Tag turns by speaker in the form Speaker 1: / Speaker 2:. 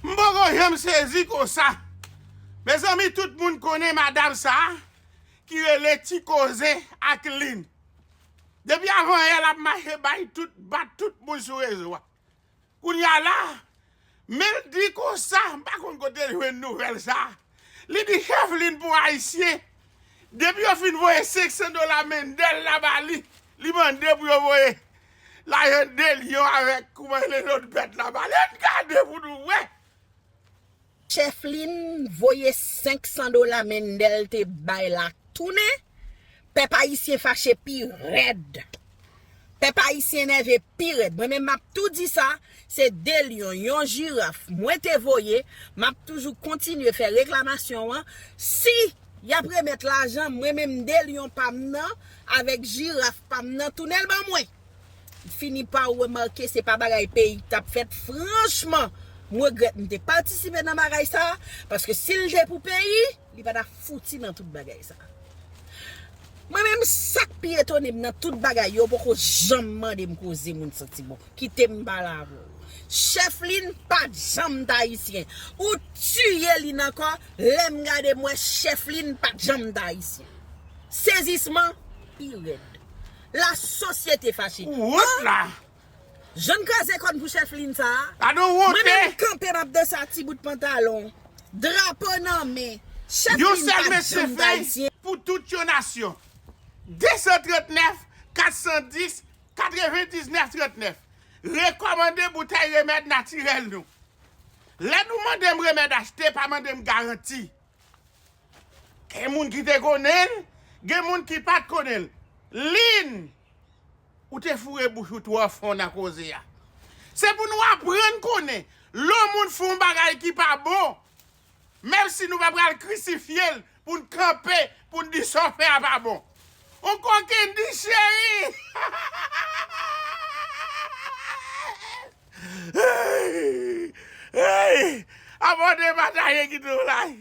Speaker 1: M poko janm sezi konsa. Mezanmi tout moun konnen madam sa ki rele ti koze ak lynn. Depi avan yè lap mache bay tout bat tout moun sou rezo a. Kounya la menl di konsa m pa konn kotel jwenn nouvèl sa. Li di Kevlin pou Ayisyen, depi yo fin voye 500 dola Mendel la ba li, li mande pou yo voye lajan 2 lyon avèk kouman rele lòt bèt la ba li. Ann gade pou nou wè!
Speaker 2: Kevlin voye 500 dola Mendel te bay la tounen. Pèp ayisyen fache pi rèd. Pèp ayisyen nève pi rèd. Mwen menm m ap tou di sa, se 2 lyon, yon jiraf mwen te voye, m ap toujou kontinye fè reklamasyon an, si y ap remèt lajan, mwen menm 2 lyon pa m nan avèk jiraf pa m nan tounen l ban mwen. fini pa remake se pa bagay peyi k tap fèt franchman m regrèt m te patisipe nan bagay sa paske si l te pou peyi li pa ta fouti nan tout bagay sa mwen menm sak pi etone m nan tout bagay yo poko janm mande m koze moun santi bon kite m pale avè w chèflin pat janm t ayisyen ou tiye li nan kò lè m gade m wè chèflin pat janm t ayisyen sezisman pi rèd. La sosyete fache. Ou wont la.
Speaker 1: Jèn
Speaker 2: kraze kòn pou chèf lin sa. Pa nou wonte. Mwen menm
Speaker 1: kanpe map danse
Speaker 2: ak ti bout pantalon. Drapo nan men. Chèf lin pa janm d'ayisyen. Yon
Speaker 1: sèl
Speaker 2: mesye fè
Speaker 1: pou
Speaker 2: tout yon
Speaker 1: nasyon. 239 410 99 39 Rekòmande boutèy remèd natirèl nou. Lè nou mande m remèd achte pa mande m garanti. Gen moun ki te konnen l, gen moun ki pa t konnen l. Lynn, Ou te foure bouch ou twò fon nan koze a. Se pou nou aprann konnen lè yon moun fè yon bagay ki pa bon, menm si nou pa pral krisifye l pou n kanpe pou n di sa w fè a pa bon. Yon kokenn di, Cheri, abòne, pataje, kite yon like.